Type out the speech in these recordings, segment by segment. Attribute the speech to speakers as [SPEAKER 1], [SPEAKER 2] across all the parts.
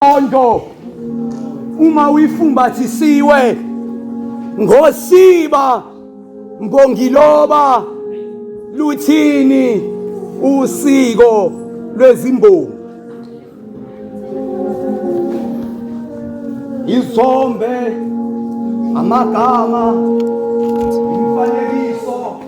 [SPEAKER 1] Ondo uma uyifumbathisiwe ngosiba mbongiloba luthini usiko lwezimbongi izombe amagama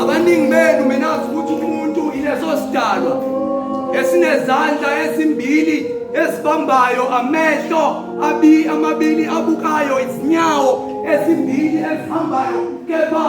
[SPEAKER 1] Abaningi benu menazi ukuthi umuntu ileso sidalwa esinezandla ezimbili esibambayo amehlo abi amabili abukayo izinyawo ezimbili ezihambayo kepha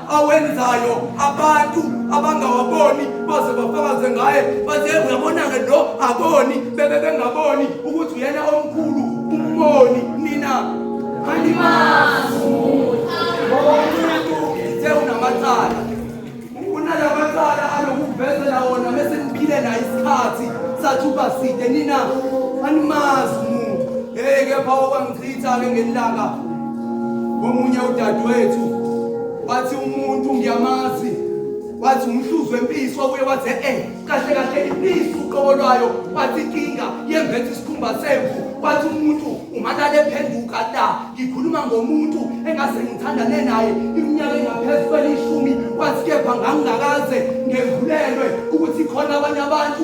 [SPEAKER 1] awenzayo abantu abangawaboni baze bafakaze ngaye baze uyabona-ke lo aboni bebe bengaboni ukuthi uyena omkhulu umboni nina alimazi umuntu uthe unamacala unalabacala alokuvezela wona mese niphile naye isikhathi sathuba side nina animazi umuntu hey kepha okwangichitha-ke ngelilanga Omunye udadewethu wathi umuntu ngiyamazi wathi umhluzi wempisi wabuye wathi e-e eh, kahle kahle impisi uqobo lwayo wathi inkinga yembethe isikhumba semvu wathi umuntu umalale ephenduka la ngikhuluma ngomuntu engase ngithandane naye iminyaka engaphezu kwelishumi wathi kepha ngangingakaze ngembulelwe ukuthi khona abanye abantu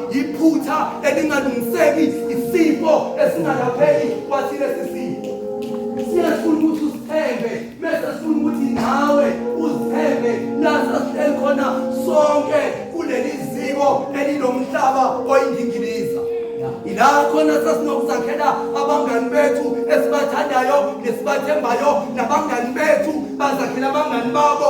[SPEAKER 1] yiphutha elingalungiseki isifo esingalapheki kwathi lesi sifo siyasifuna ukuthi usithembe mese sifuna ukuthi nawe uzithembe lasa sihleli khona sonke kuleli ziko elinomhlaba oyindingiliza ila khona sasinokuzakhela abangani bethu esibathandayo nesibathembayo nabangani bethu bazakhela abangani babo